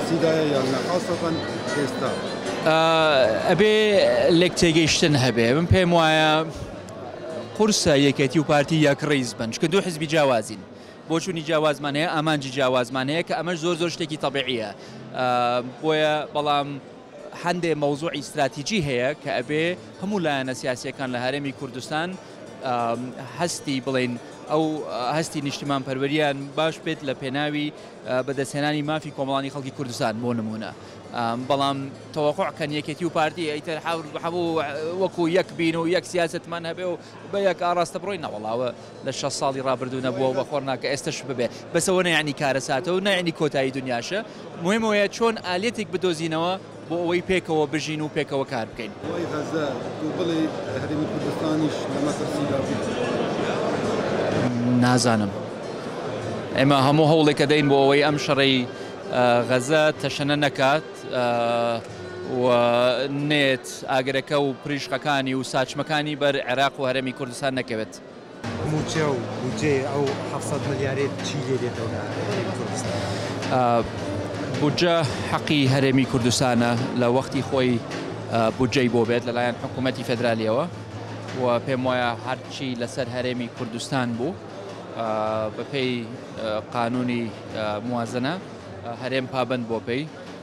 تیدایە یان نا خاصەتەن ئێستا؟ ئەبێ لێک تێگەیشتن هەبێ من پێم وایە قورسە یەکێتی و پارتی یەک ڕیز بن چکە دوو حزبی جیاوازین بۆچوونی جیاوازمان هەیە ئامانجی جیاوازمان هەیە کە ئەمەش زۆر زۆر شتێکی تەبیعیە بۆیە بەڵام هەندێ مەوزوعی استراتیجی هەیە کە ئەبێ هەموو لایەنە سیاسەکان لە هەرێمی کوردستان هەستی بڵین ئەو هەستی نیشتیمان پەروەریان باش بێت لە پێناوی بەدەستهێنانی مافی کۆمەڵانی خەڵکی کوردستان بۆ نموونە بەڵام تەوەقوع کەن یەکێتی و پارتی ئەیتر هەموو وەکو یەک بین و یەک سیاستمان هەبێ و بە یەک ئاراستە بڕۆی نەوەڵاوە لە شە ساڵی ڕابردوو نەبووە بە خۆرنا کە ئێستش ببێ بەسەوە نەیانی کارەساتە و نەیانی کۆتایی دنیاشە مهمەیە چۆن ئالەتێک بدۆزینەوە بۆ ئەوەی پێکەوە بژین و پێکەوە کار بکەین. ئەوەی غەزە و بڵێی هەرێمی کوردستانیش لە مەترسیدا بێت. نازانم. ئێمە هەموو هەوڵێک دەدەین بۆ ئەوەی ئەم شەڕەی غەزە تەشەنە نەکات و نێت ئاگرەکە و پریشقەکانی و ساچمەکانی بەر عێراق و هەرێمی کوردستان نەکەوێت. مووچە و بودجەی ئەو حەفت سەد ملیارەی چی لێ دێتەوە لە هەرێمی کوردستان؟ بودجە حەقی هەرێمی کوردستانە لە وەختی خۆی بودجەی بۆ بێت لەلایەن حکوومەتی فێدرالییەوە و پێم وایە هەرچی لەسەر هەرێمی کوردستان بوو بەپێی قانوونی موازنە هەرێم پابەند بووە پێی.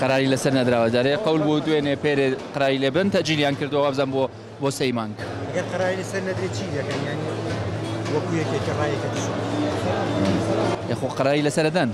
قەراری لەسەر نەدراوە جارێ قەول بوو دوێنێ پێرێ قەراری لێ بدەن تەجیلیان کردووە وابزان بۆ بۆ سێی مانگ گەر قەراری لەسەر نەدرێت چی دەکەن یانی وەکو یەکێکە ڕایەکە دژوە یەخۆ قەراری لەسەردەن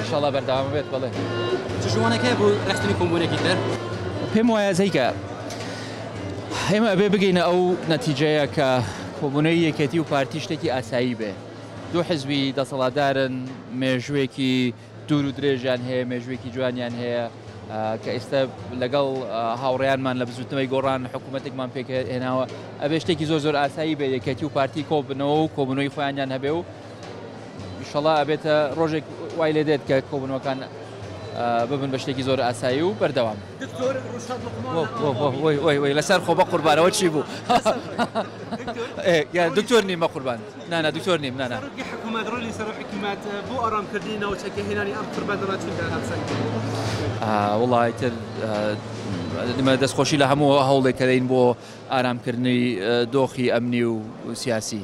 شڵە بەرداوام بێت بڵێ جوانەکە بوو ڕستنی کۆمبوونەکی تر پێم وایە زەیکە ئێمە ئەبێ بگەینە ئەو نەتیجەیە کە کۆبوونەوی یەکێتی و پارتی شتێکی ئاسایی بێ. دوو حزبی دەسەڵاتدارن، مێژووێکی دوور و درێژیان هەیە، مێژووێکی جوانیان هەیە کە ئێستا لەگەڵ هاوڕێیانمان لە بزووتنەوەی گۆڕان حکوومەتێکمان پێک هێناوە، ئەبێ شتێکی زۆر زۆر ئاسایی بێ یەکێتی و پارتی کۆ ببنەوە و کۆبوونەوەی خۆیانیان هەبێ و ئیشەڵا ئەبێتە ڕۆژێک وای لێ دێت کە کۆبوونەوەکان ببن بە شتێکی زۆر ئاسایی و بەردەوام. لەسەر خۆ بە قوربارەوە چی بوو دکتۆر نیمە قوربان نانا دکتۆر نیم نانا وڵی تر دمە دەستخۆشی لە هەموو هەوڵێک کەدەین بۆ ئارامکردنی دۆخی ئەمنی و سیاسی.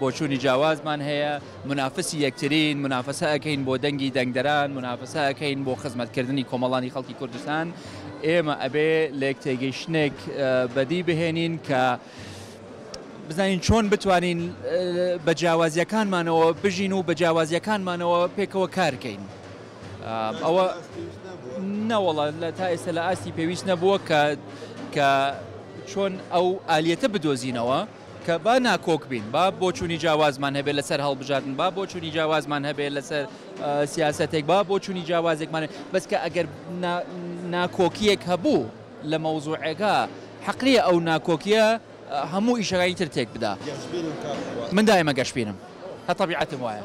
بۆچوونی جیاوازمان هەیە، مونافسی یەکترین، مونافەسە ئەکەین بۆ دەنگی دەنگدەران، مونافەسە ئەکەین بۆ خزمەتکردنی کۆمەڵانی خەڵکی کوردستان، ئێمە ئەبێ لێکتێگەیشتنێک بەدی بهێنین کە بزانین چۆن بتوانین بە جیاوازیەکانمانەوە بژین و بە جیاوازیەکانمانەوە پێکەوە کارکەین. ئەوە نەوەڵە لە تا ئێستا لە ئاستی پێویست نەبووە کە کە چۆن ئەو ئالیەتە بدۆزینەوە. کە با ناکۆک بین، با بۆچوونی جیاوازمان هەبێت لەسەر هەڵبژاردن، با بۆچوونی جیاوازمان هەبێت لەسەر سیاسەتێک، با بۆچوونی جیاوازێکمان هەبێت، بەس کە ئەگەر ناکۆکییەک هەبوو لە مەوزووعێکا، حەق نییە ئەو ناکۆکییە هەموو ئیشەکانی تر تێک بدا. من دایمە گەشبینم، هەر تەبیعەتم وایە.